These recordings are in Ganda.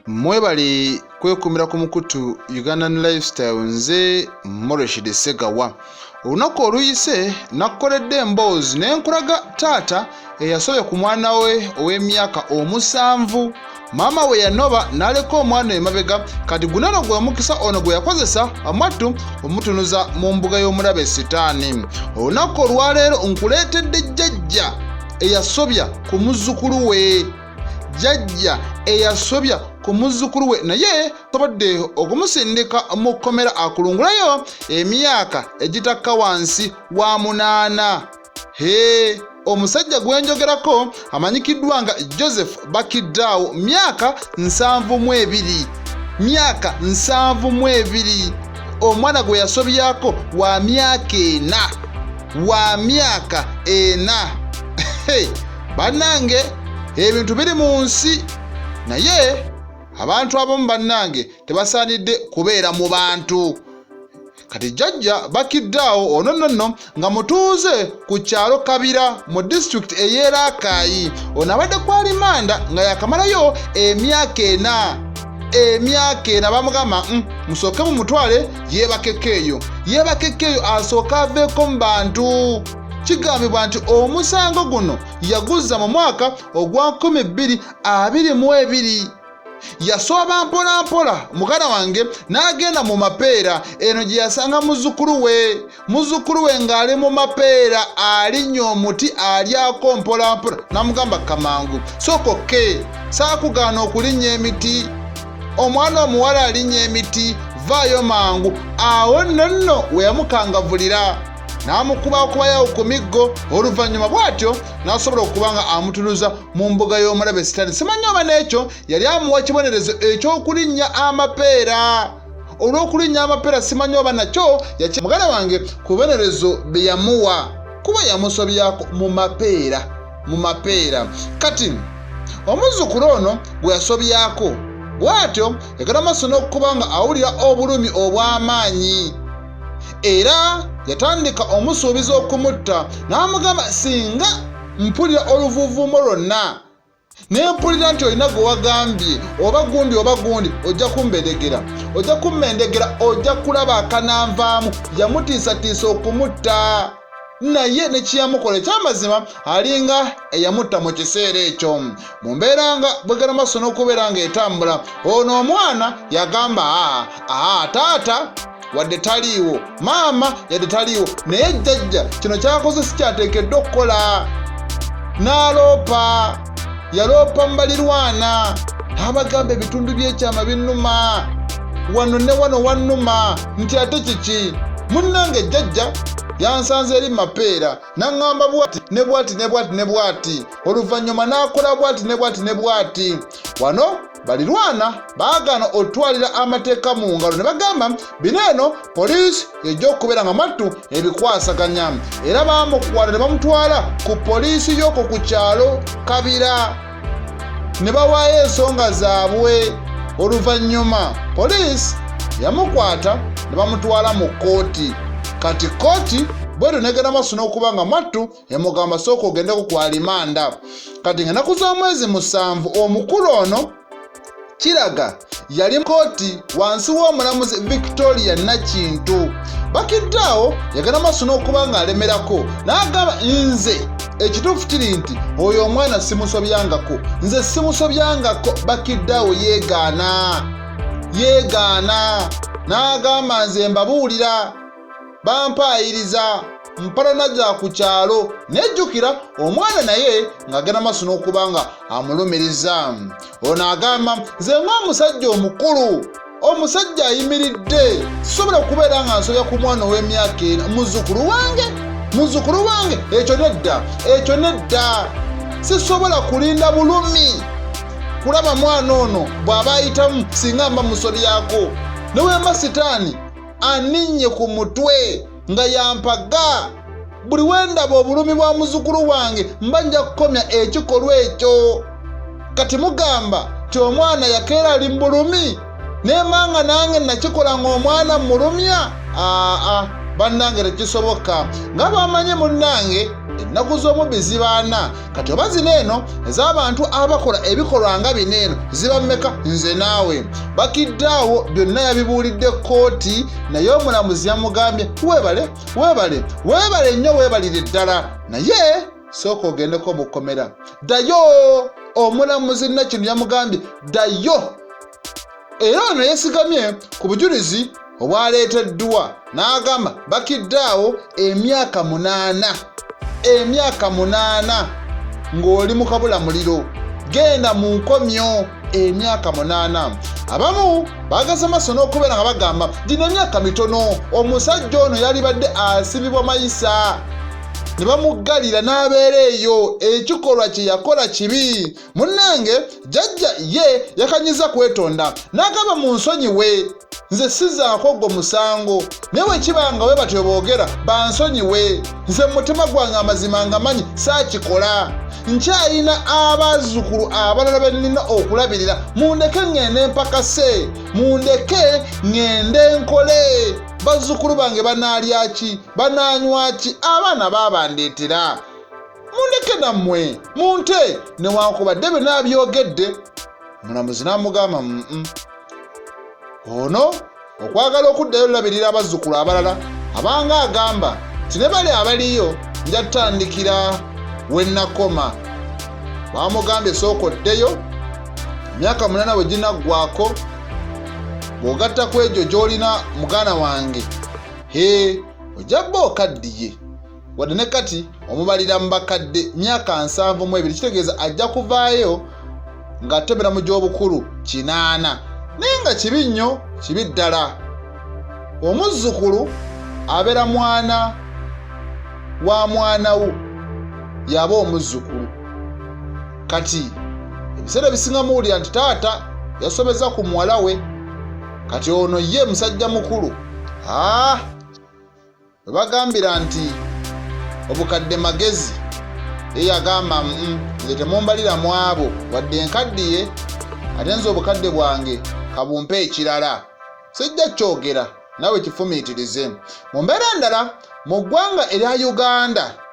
mwebale kwekumira ku mukutu ugandan lifestyle nze moreshid segawa olunaku oluyise nakkoledde emboozi ne nkulaga taata eyasobya ku mwana we ow'emyaka omusanvu maama we yanoba n'aleka omwana emabega kati gunono gwe mukisa ono gwe yakozesa amattu omutunuza mu mbuga y'omulabe sitaani olunaku olwaleero nkuleetedde jjajja eyasobya ku muzzukulu we jjajja eyasobya ku muzzukulu we naye tobadde okumusindika mu kkomera akulungulayo emyaka egitakka wansi wa munaana Hee, omusajja gwe njogerako amanyikiddwa nga Joseph Bakiddaawo myaka nsanvu mu ebiri myaka nsanvu mu ebiri omwana gwe yasobyako wa myaka ena wa myaka ena bannange ebintu biri mu nsi naye abantu abamu bannange tebasaanidde kubeera mu bantu kati jjajja bakiddaawo ono nonno nga mutuuze ku kyalo kabira mu disitulikiti ey'eraakaayi ono abadde ku alimanda nga yakamalayo emyaka ena emyaka ena bamugamba mm, musooke mu mutwale yeebakeko eyo yeebakeko eyo asooke aveeko mu bantu kigambibwa nti omusango guno yaguzza mu mwaka ogwa 222 yasooba mpolampola muganda wange n'agenda mu mapeera eno gye yasanga muzzukulu we muzzukulu we ng'ali mu mapeera alinnya omuti alyako mpolampola n'amugamba kamangu sooka okke saakugaana okulinnya emiti omwana omuwala alinnya emiti vaayo mangu awo nonno we yamukangavulira n'amukuba okubayawo ku miggo oluvannyuma bw'atyo n'asobola okuba nga amutunuza mu mbuga y'omulabe sitaani simanyi oba n'ekyo yali amuwa kibonerezo eky'okulinnya amapeera olw'okulinnya amapeera simanyi oba nakyo yaki muganda wange ku bibonerezo bye yamuwa kuba yamusobyako mu mapeera mu mapeera kati omuzzukulu ono gwe yasobyako bw'atyo yagala maaso n'okuba nga awulira obulumi obw'amaanyi era yatandika omusuubiza okumutta n'amugamba singa mpulira oluvuuvuumo lwonna naye mpulira nti olina gwe wagambye oba gundi oba gundi ojja kumbedegera ojja kummendegera ojja kulaba akananvaamu yamutiisatiisa okumutta naye nekiyamukola ekyamazima alinga eyamutta mu kiseera ekyo mu mbeera nga bwegana maaso n'okubeera nga etambula ono omwana yagamba aa taata wadde taliiwo maama yadde taliiwo naye jjajja kino kyakoze sikyateekeddwa okukola n'aloopa yaloopa mu balirwana abagamba ebitundu by'ekyama binnuma wano ne wano wannuma nti ate kiki munnange jjajja yansanze eri mapeera naŋŋamba bwati ne bwati ne bwati ne bwati oluvannyuma n'akola bwati ne bwati ne bwati wano balirwana baagaana otwalira amateeka mu ngalo ne bagamba bino eno poliisi yejja okubeera nga mattu ebikwasaganya era baamukwata ne bamutwala ku poliisi y'okwo ku kyalo kabira ne bawaayo ensonga zaabwe oluvannyuma poliisi yamukwata ne bamutwala mu kkooti kati kkooti bwetyo negenda maaso n'okuba nga mattu yamugamba sooka ogendeko ku alimanda kati nga naku za mwezi musanvu omukulu ono kiraga yali kooti wansi w'omulamuzi victoria nakintu bakiddaawo yagenda maaso n'okuba ng'alemerako n'agamba nze ekituufu kiri nti oyo omwana simusobyangako nze simusobyangako bakiddaawo yeegaana yeegaana n'agamba nze mbabuulira bampaayiriza mpalana za ku kyalo nejjukira omwana naye ng'agenda maaso n'okuba nga amulumiriza ono agamba nze ng'omusajja omukulu omusajja ayimiridde sisobola okubeera nga nsobya ku mwana ow'emyaka ena muzukulu wange muzukulu wange ekyo nedda ekyo nedda sisobola kulinda bulumi kulaba mwana ono bw'aba ayitamu singa mba musobyako newemba sitaani aninnye ku mutwe nga yampaga buli we ndaba obulumi bwa muzukulu wange mba nja kukomya ekikolwa ekyo kati mugamba nti omwana yakeera ali mu bulumi nemanga nange nakikola ng'omwana mulumya aa bannange tekisoboka nga bamanyi munnange ennaku z'omubbi zibaana kati oba zino eno ez'abantu abakola ebikolwa nga bino eno ziba mmeka nze naawe bakidde awo byonna yabibuulidde kkooti naye omulamuzi yamugambye weebale weebale weebale nnyo weebalire ddala naye sooka ogendeko mu kkomera ddayo omulamuzi nakino yamugambye ddayo era ono yesigamye ku bujulizi obwaleeteddwa n'agamba bakiddaawo emyaka munaana emyaka munaana ng'oli mu kabula muliro genda mu nkomyo emyaka munaana abamu bageze maaso n'okubeera nga bagamba gino emyaka mitono omusajja ono yalibadde asibibwa mayisa ne bamuggalira n'abeera eyo ekikolwa kye yakola kibi munnange jajja ye yakanyiza kwetonda n'agamba mu nsonyi we nze sizaako ogwo musango naye wekiba nga we batyo boogera bansonyi we nze mu mutima gwange amazima ngamanyi saakikola nkyayina abazzukulu abalala be nnina okulabirira mundeke ŋŋende mpakase mundeke ŋŋende nkole bazzukulu bange banaalya ki banaanywa ki abaana baabandeetera mundeke nammwe munte newankubadde byonna abyogedde mulamuzi n'amugamba mm ono okwagala okuddayo olulabirira abazzukulu abalala abanga agamba nti ne bali abaliyo njatandikira wennakoma bamugambye esooka oddeyo emyaka munana bwe ginaggwako bw'ogatta ku egyo gy'olina muganda wange he ojja bba okaddiye wadde ne kati omubalira mu bakadde myaka nsanvu mu ebiri kitegeeza ajja kuvaayo ng'atemera mu gy'obukulu kinaana naye nga kibi nnyo kibi ddala omuzzukulu abeera mwana wa mwana wo yaba omuzzukulu kati ebiseera ebisinga muwulira nti taata yasobeza ku muwala we kati ono ye musajja mukulu aa ah! We bagambira nti obukadde magezi ye yagamba mm, nze temumbalira mu abo wadde nkaddiye ate nze obukadde bwange kabumpe ekirala sijja kyogera nawe kifumiitirize mu mbeera endala mu ggwanga erya uganda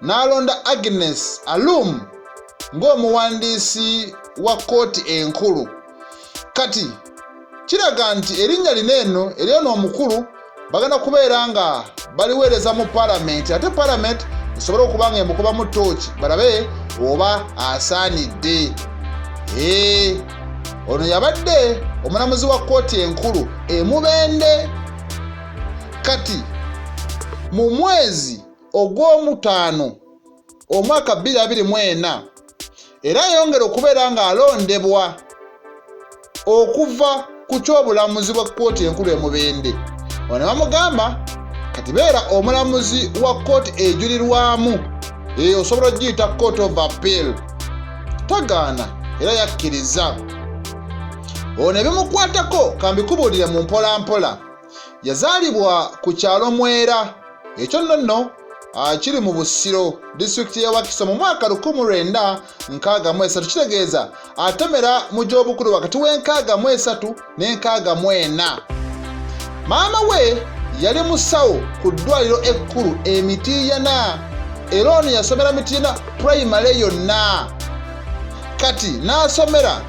n'alonda Agnes Alum ng'omuwandiisi wa kkooti enkulu kati kiraga nti erinnya lino eno eryona omukulu bagenda kubeera nga baliweereza mu palamenti ate palamenti esobole okuba nga emukubamu tooki balabe oba asaanidde ono yabadde omulamuzi wa kkooti enkulu emubende kati mu mwezi ogw'omutaano omwaka 2024 era yayongera okubeera ng'alondebwa okuva ku ky'obulamuzi bwa kkooti enkulu e Mubende ono ne bamugamba kati beera omulamuzi wa kkooti ejulirwamu eyo osobola okugiyita court of appeal tagaana era yakkiriza ono ebimukwatako kambikubuulire mu mpolampola yazaalibwa ku kyalo mwera ekyo nno nno akiri mu busiro disitulikiti ya wakiso mu mwaka 1963 kitegeeza atemera mu gy'obukulu wakati w'enkaaga mu esatu n'enkaaga mu ena maama we yali musawo ku ddwaliro ekkulu emitiiyana era ono yasomera mitiiyana purayimale yonna kati n'asomera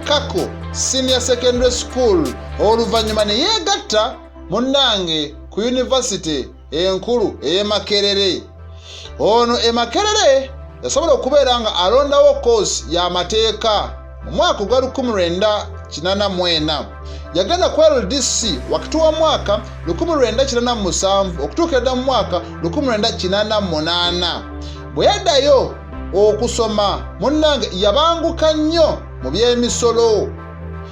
kako senior secondary school oluvannyuma ne yeegatta munnange ku yunivasite enkulu ey'e makerere ono e makerere yasobola okubeera nga alondawo koosi y'amateeka mu mwaka ogwa 1984 yagenda ku ldc wakati wa mwaka 1987 okutuukira dda mu mwaka 1988 bwe yaddayo okusoma munnange yabanguka nnyo mu by'emisolo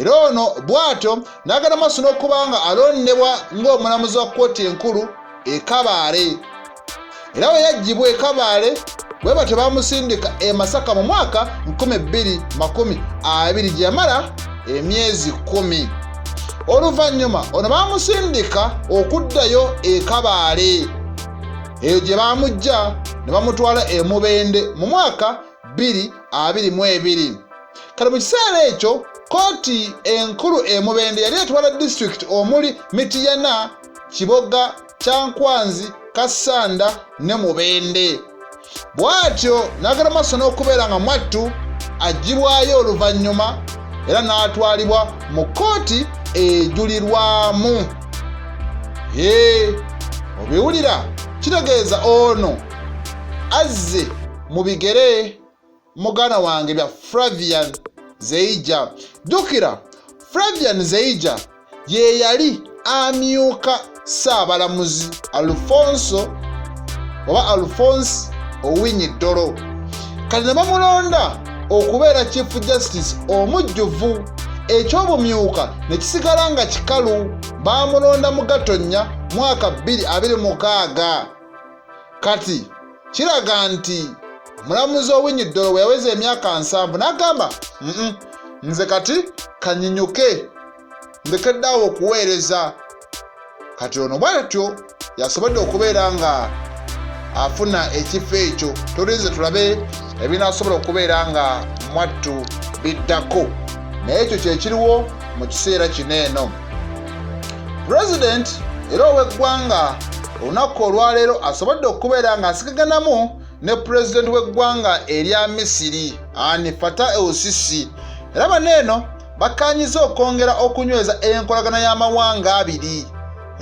era ono bw'atyo n'agenda maaso n'okuba nga alondebwa ng'omulamuzi wa kkooti enkulu e kabaale era bwe yaggyibwa e kabaale bwe batyo baamusindika e masaka mu mwaka 220 gye yamala emyezi kumi oluvannyuma ono baamusindika okuddayo e kabaale eyo gye baamuggya ne bamutwala e mubende mu mwaka 222 kati mu kiseera ekyo kkooti enkulu e mubende yali etwala disitulikiti omuli mitiyana kiboga kyankwanzi kassanda ne mubende bw'atyo n'agenda maaso n'okubeera nga mwattu aggyibwayo oluvannyuma era n'atwalibwa mu kkooti ejulirwamu ee obiwulira kitegeeza ono azze mu bigere mugana wange bya flavian zeija jjukira flavian zeija ye yali amyuka saabalamuzi alfonso oba alfonse owinyi ddolo kati ne bamulonda okubeera chief justice omujjuvu ekyobumyuka ne kisigala nga kikalu baamulonda mu gatonnya mwaka 226 kati kiraga nti omulamuzi owinyi ddolo bwe yaweza emyaka nsanvu n'agamba nze kati kanyinyuke ndekeddaawo okuweereza kati ono bwatyo yasobodde okubeera nga afuna ekifo ekyo tulinze tulabe ebinaasobola okubeera nga mwattu biddako naye ekyo kyekiriwo mu kiseera kino eno president era ow'eggwanga olunaku olwaleero asobodde okubeera ng'asigaganamu ne pulezidenti w'eggwanga erya misiri ani fata eusisi era bano eno bakkaanyiza okwongera okunyweza enkolagana y'amawanga abiri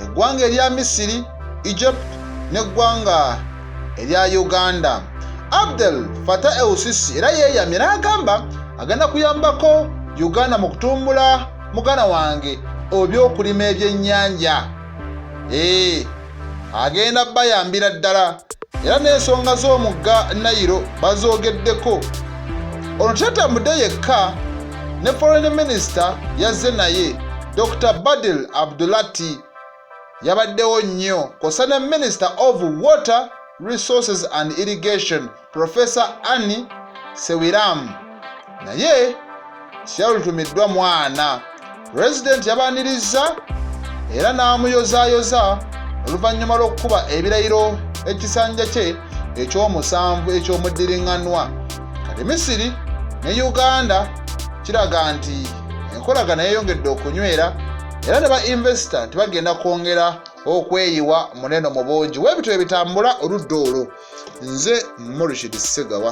eggwanga erya misiri egypt n'eggwanga erya uganda abdel fata eusisi era yeeyamye n'agamba agenda kuyambako uganda mu kutumbula mugana wange obyokulima ebyennyanja ee eh, agenda bayambira ddala era n'ensonga z'omugga nayiro bazoogeddeko ono tatambudde yekka ne foreign minister yazze naye dr badil abdulati yabaddewo nnyo kosa ne minister of water resources and irrigation Profesa Anni Sewiramu naye siyalulutumiddwa mwana pulezidenti yabaanirizza era n'amuyozaayoza oluvannyuma lw'okukuba ebirayiro ekisanja kye eky'omusanvu eky'omuddiriŋŋanwa kati misiri ne uganda kiraga nti enkolagana yeyongedde okunywera era ne ba invesita nti bagenda kwongera okweyiwa muneno mu bungi webityo ebitambula oludda olwo nze murishid segawa